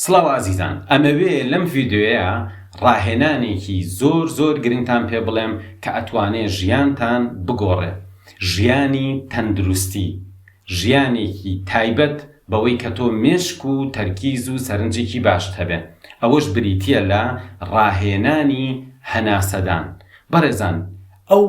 سڵاو ئازیزان ئەمەوێ لەم ڤیدیۆیە ڕاهێنانێکی زۆر زۆر گرنگتان پێ بڵێم کە ئەتوانێ ژیانتان بگۆڕێ ژیانی تەندروستی ژیانێکی تایبەت بەوەی کە تۆ مێشک و تەرکیز و سەرنجێکی باشت هەبێ ئەوەش بریتیە لە ڕاهێنانی هەناسەدان بەڕێزان ئەو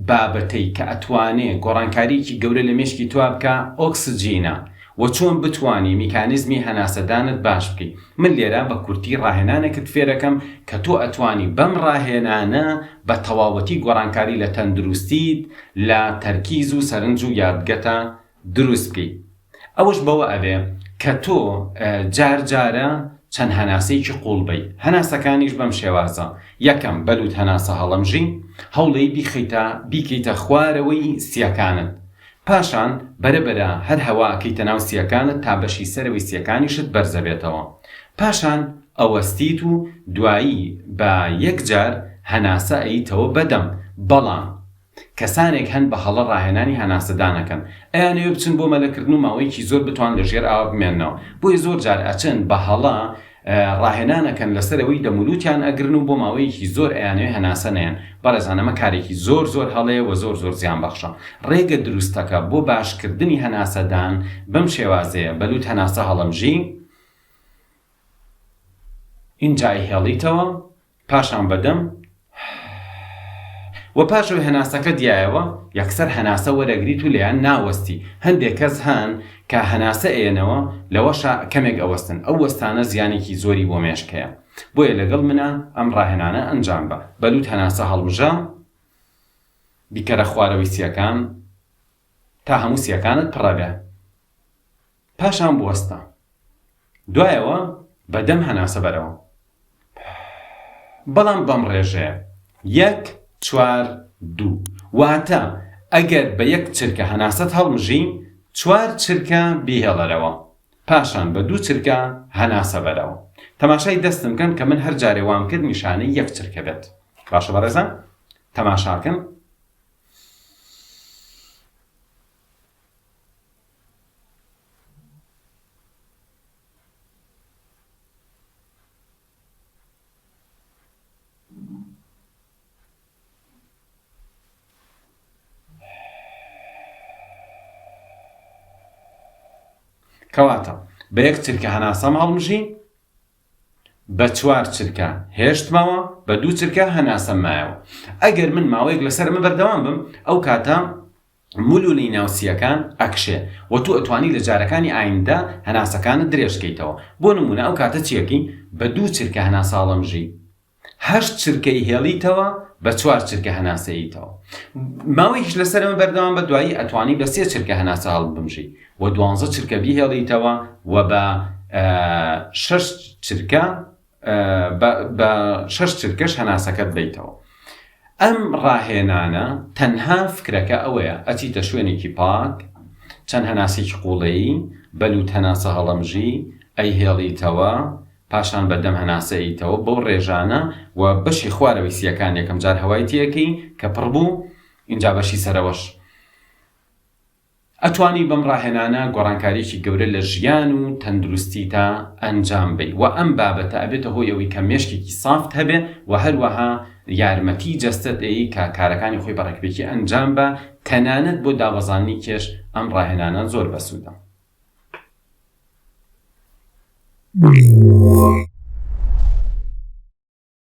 بابەتەی کە ئەتوانێ گۆڕانکاریەکی گەورە لە مێشکی تۆا بکا ئۆکسجینە و چۆن بتوانی میکانیزمی هەناسەدانت باش بکەی من لێرە بە کورتی ڕاهێنانێکت فێرەکەم کە تۆ ئەتوانی بەم ڕاهێنانە بە تەواوەتی گۆڕانکاری لە تەندروستیت لە تەرکیز و سەرنج و یادگەتا دروست بکەی ئەوەش بەوە ئەبێ کە تۆ جار جارە چەند هەناسەیەکی قوڵ بەی هەناسەکانیش بەم شێوازە یەکەم بەلوت هەناسە هەڵەمژی هەوڵی بیخەیتە بیکەیتە خوارەوەی سیەکانت پاشان بەرە بەرە هەر هەوا ئەکەیتە ناو سیەکانت تا بەشی سەرەوەی سیەکانیشت بەرزەبێتەوە پاشان ئەوەستیت و دوایی بە یەک جار هەناسە ئەیتەوە بەدەم بەڵام کەسانێک هەن بە هەڵە ڕاهێنانی هەناسەدان ئەکەن، ئەیانەوێ بچن بۆ مەلەکردن و ماوەیەکی زۆر بتوان لە ژێر ئاوا بمێننەوە، بۆیە زۆر جار ئەچن بە هەڵە ڕاهێنان ئەکەن لەسەر ئەوەی دەمولوتیان ئەگرن و بۆ ماوەیەکی زۆر ئەیانەوێ هەناسە نەیەن، بەڕێزان ئەمە کارێکی زۆر زۆر هەڵەیە و زۆر زۆر زیان بەخشە، ڕێگە دروستەکە بۆ باش کردنی هەناسەدان بەم شێوازەیە، بە لوت هەناسە هەڵەمژی، ئینجا ئەیهێڵیتەوە، پاشان بە دەم و پاشەوەی هەناسەکەت یایەوە یەکسەر هەناسە وەرەگریت و لێیان ناوەستی، هەندێک کەس هەن کە هەناسە ئەیەنەوە لەوەشا کەمێک ئەوەستن، ئەو وەستانە زیانێکی زۆری بۆ مێشکەیە، بۆیە لەگەڵ منا ئەم ڕاهێنانە ئەنجام بە، بە لوت هەناسە هەڵمژە، بیکەرە خوارەوەی سیەکان تا هەموو سیەکانت پڕەبێ. پاشان بوەستە دوایەوە بە دەم هەناسە بەرەوە بەڵام بەم ڕێژەیە یەک چوار دوو واتە ئەگەر بە یەک چرکە هەناسەت هەڵمژی چوار چرکە بیهێڵەرەوە پاشان بە دوو چرکە هەناسە بەرەوە تەماشای دەستم کەن کە من هەر جارێ وام کرد نیشانەی یەک چرکە بێت باشە بەڕێزان تەماشاکەن کەواتە بە یەک چرکە هەناسەم هەڵمژین بە چوار چرکە هێشتمەوە بە دوو چرکە هەناسەم مایەوە ئەگەر من ماوەیەک لەسەر من بەردەوام بم ئەو کاتە مولولی ناو سییەکان ئەکشێ و تۆ ئەتوانی لە جارەکانی ئایندە هەناسەکانت درێژ کەیتەوە. بۆ نموونە ئەو کاتە چیەکی بە دوو چرکە هەناساڵەمژی هەشت چرکەی هێڵیتەوە بە چوار چرکە هەناسەییتەوە ماوەیکیش لە سەرمە بەردەوام بە دوایی ئەتوانی بە سێ چرکە هەناسە هەڵبمژی و دوانزە چرکە بیهێڵیتەوە و بە شەش چرکە بە شەش چرکەش هەناسەکەت بەیتەوە. ئەم ڕاهێنانە تەنها فکرەکە ئەوەیە ئەچیتە شوێنێکی پاک، چەند هەناسێکی قوڵەیی، بە لوت هەناسە هەڵەمژی ئەیهێڵیتەوە، پاشان بە دەم هەناسە ئەیتەوە بەو ڕێژانە و بەشی خوارەوەی سییەکان یەکەم جار هەوای تێ ئەکەی کە پڕ بوو ئینجا بەشی سەرەوەش. ئەتوانی بەم ڕاهێنانە گۆڕانکاریەکی گەورە لە ژیان و تەندروستیتا ئەنجام بەی وە ئەم بابەتە ئەبێتە هۆی ئەوەی کە مێشکێکی سافت هەبێ وە هەروەها یارمەتی جەستەت ئەیی کە کارەکانی خۆی بە ڕێکپێکی ئەنجام با تەنانەت بۆ دابەزاندنی کێش ئەم ڕاهێنانە زۆر بەسودە.